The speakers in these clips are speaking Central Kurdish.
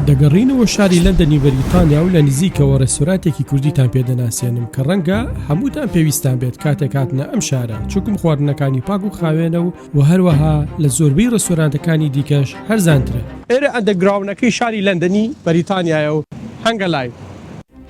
دەگەڕێینەوە شاری لەندەنی بەریتانیا و لە نزیکەوە ڕێستۆراتێکی کوردیتان پێ دەناسێنم کە ڕەنگە هەمووتان پێویستان بێت کاتێک هاتنە ئەم شارە چکم خواردنەکانی پاک و خاوێنە و و هەروەها لە زۆربەی ڕێستۆرانتەکانی دیکەش هەرزانترە ئێرە ئەندەگراونەکەی شاری لەندەنی بەریتانیایە و هەنگە لایڤ.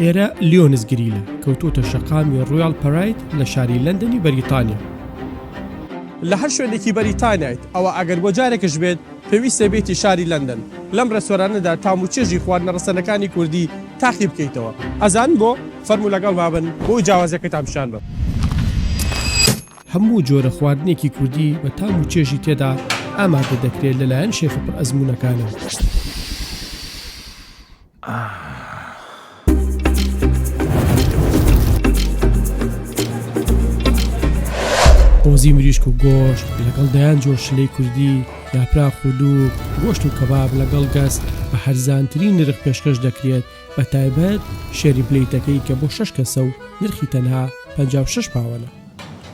ئێرە لیۆنس گریلە کەوتوتە شەقامی ڕویال پەرایت لە شاری لەندەنی بەریتانیا. لە هەر شوێنێکی بەریتانیایت ئەوە ئەگەر بۆ جارێکش بێت پێویستە بێتی شاری لەندەن لەم ڕێستۆرانەدا تام و چێژی خواردنە ڕەسەنەکانی کوردی تاقی بکەیتەوە ئەزان بۆ فەرموو لەگەڵ مابن بۆ جیاوازەکەتان پیشان بم. هەموو جۆرە خواردنێکی کوردی بە تام و چێژی تێدا ئامادە دەکرێت لەلایەن شێفە پڕ ئەزموونەکانەوە. قۆزی مریشک و گۆشت لەگەڵ دەیان جۆر شلەی کوردی یاپراخ و دوو گۆشت و کەباب لەگەڵ گەست بە هەرزانترین نرخ پێشکەش دەکرێت بە تایبەت شێری پلیتەکەی کە بۆ شش کەسە و نرخی تەنها 56 پاوەە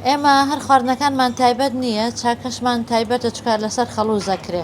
ئێمە هەر خواردنەکانمان تایبەت نییە چاکەشمان تایبەتە چکار لەسەر خەڵوز دەکرێ.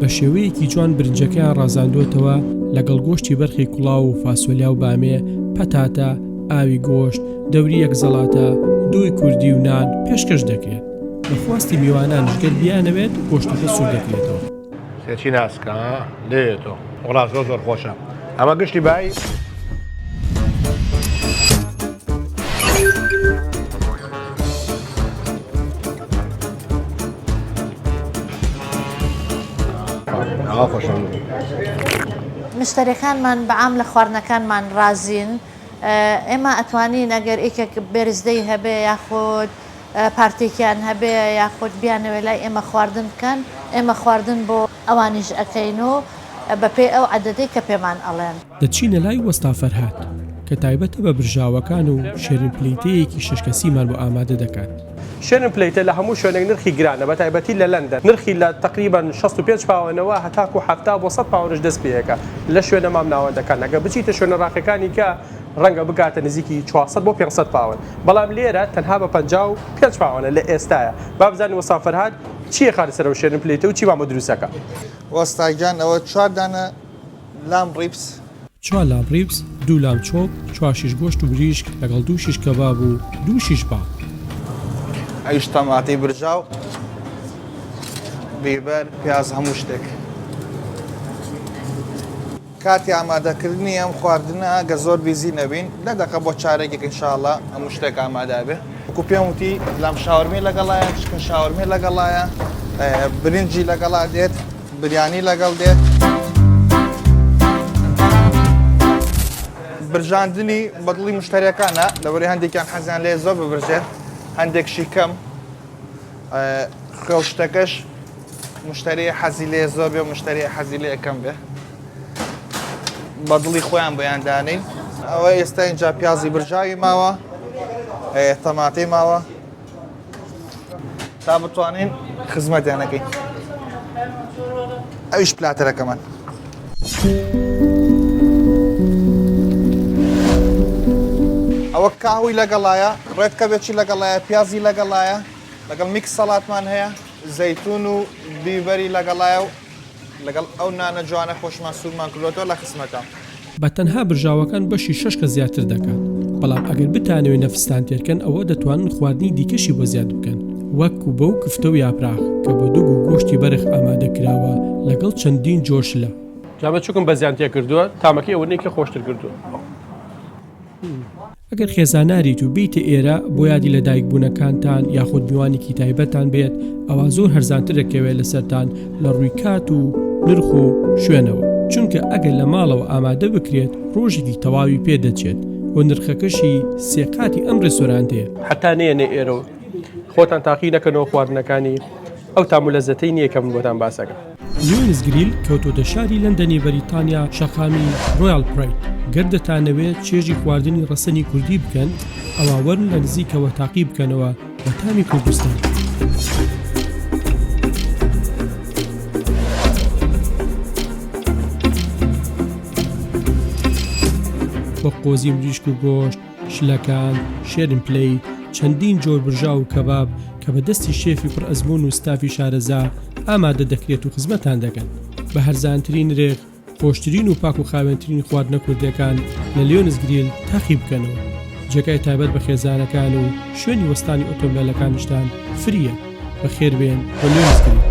بە شێوەیەکی جوان برنجەکەیان ڕازاندووەتەوە لەگەڵ گۆشتی بەرخی کوڵاو و فاسۆلیا و بامێ، پەتاتە، ئاوی گۆشت، دەوری یەک زەڵاتە، دووی کوردی و نان پێشکەش دەکرێت. بە خواستی میوانانش گەر بیانەوێت گۆشتەکە سوور دەکرێتەوە. سێچی ناسکە ها لێیە تۆ. وەڵا زۆر زۆر خۆشە. ئەمە گشتی بای مشتەرەکانمان بەعام لە خواردنەکانمان رازین ئێمە ئەتوانین ئەگەر ئێکێک بێرزدەی هەبێ یاخود پارتێکیان هەبێ یاخود بیانەوە لای ئێمە خواردن بکەن ئێمە خواردن بۆ ئەوانیش ئەکەین و بە پێی ئەو عەدەدەی کە پێمان ئەڵێن. دەچینە لای وەستا فەرهاد، کە تایبەتە بە برژاوەکان و شێرین پلەیتەیەکی شەش کەسیمان بۆ ئامادە دەکات. شێرین پلەیتە لە هەموو شوێنێک نرخی گرانە، بە تایبەتی لە لەندەن، نرخی لە تەقریبەن شەست و پێنج پاوەنەوە هەتاکوو حەفتا بۆ سەد پاوەنش دەست پێیەکە لە شوێنە مامناوەندەکان، ئەگەر بچیتە شوێنە ڕاقیەکانی کە ڕەنگە بگاتە نزیکی چوار سەد بۆ پێنج سەد پاوەن، بەڵام لێرە تەنها بە پەنجا و پێنج پاوەنە لە ئێستایە. با بزانین وەستا فەرهاد. چیە خارە سەرەوە شێرن پلەیتە و چیمان بۆ دروست ئەکا. وەستا گیان ئەوە چوار دانە لام ڕیپس. چوار لام ڕیپس، دوو لام چۆپ، چوار شیش گۆشت و بریشک لەگەڵ دوو شیش کەباب و دوو شیش باڵ. ئەویش تەماتەی برژاو، بیبەر، پیاز هەموو شتێک. کاتی ئامادە کردنی ئەم خواردنە ئەگەر زۆر بیزی نەبین دە دەقە بۆ چارەکێک ان شاء اللە هەموو شتێک ئامادە بێ وەکو پێم وتی لام شاورمی لەگەڵایە چکن شاورمی لەگەڵایە برنجی لەگەڵا دێت بریانی لەگەڵ دێت برژاندنی بەدڵی مشتەرەکانە لەوەری هەندێکیان حەزیان لێ زۆر ببرژێت هەندێک شیکەم خوێ و شتەکەش مشتری حەزی لێ زۆر بێ مشتری حەزی لێ کەم بێ بە دڵی خۆیان بۆیان دانین ئەوە ئێستا اینجا پیازی برژاوی ماوە تەماتی ماوە تا بتوانین خزمەتیانەکەی ئەویش پلاتەرەکەمان ئەوە کاهوی لەگەڵایە ڕێتکەبێکی لەگەڵایە پیازی لەگەڵایە لەگەڵ میکس سەڵاتمان هەیە زەیتون و بیبەری لەگەڵایە و لەگەڵ ئەو نانە جوانە خۆشمان سوورمان کردوەوە لە خسمەتە. بە تەنها برژاوەکان بەشی شەش کەس زیاتر دەکات، بەڵام ئەگەر بتانەوێت نەفستان تێرکەن ئەوە دەتوانن خواردنی دیکەشی بۆ زیاد بکەن. وەک کوبە و کفتە و یاپراخ کە بە دوگ و گۆشتی بەرخ ئامادە کراوە لەگەڵ چەندین جۆر شلە. جا بچوکم بەزیان تێکردووە تامەکەی ئەوەنەی کە خۆشتر کردووە. ئەگەر خێزاناریت و بێیتە ئێرە بۆ یادی لە دایک بوونەکانتان یاخود میوانێکی تایبەتان بێت ئەوا زۆر هەرزانتر دەکەوێت لەسەرتان لە ڕووی کات و نرخ و شوێنەوە چونکە ئەگەر لە ماڵەوە ئامادە بکرێت ڕۆژێکی تەواوی پێ دەچێت و نرخەکەشی سێ قاتی ئەم ڕێستۆرانتەیە. هەتا نەیەنە ئێرە و. خۆتان تاقی نەکەنەوە خواردنەکانی ئەو تام و لەزەتەی نیە کە من بۆتان باسەکەم. لیۆنس گریل کەوتۆتە شاری لەندەنی بەریتانیا شەقامی ڕۆیاڵ پرید گەر دەتانەوێ چێژی خواردنی ڕەسەنی کوردی بکەن ئەوا وەرن لە نزیکەوە تاقی بکەنەوە بە تامی کوردستان. بە قۆزی مریشک و گۆشت. شلەکان، شێرن پلەی، چەندین جۆر برژاو و کەباب کە بە دەستی شێفی پڕ ئەزموون و ستافی شارەزا ئامادە دەکرێت و خزمەتتان دەکەن بە هەرزانترین نرخ، خۆشترین و پاک و خاوێنترین خواردنە کوردەکان لە لیۆنس گریل تاقی بکەنەوە. جێگای تایبەت بە خێزانەکان و شوێنی وەستانی ئۆتۆمبێلەکانیشتان فرییە. بەخێربێن بۆ لیۆنس گریل.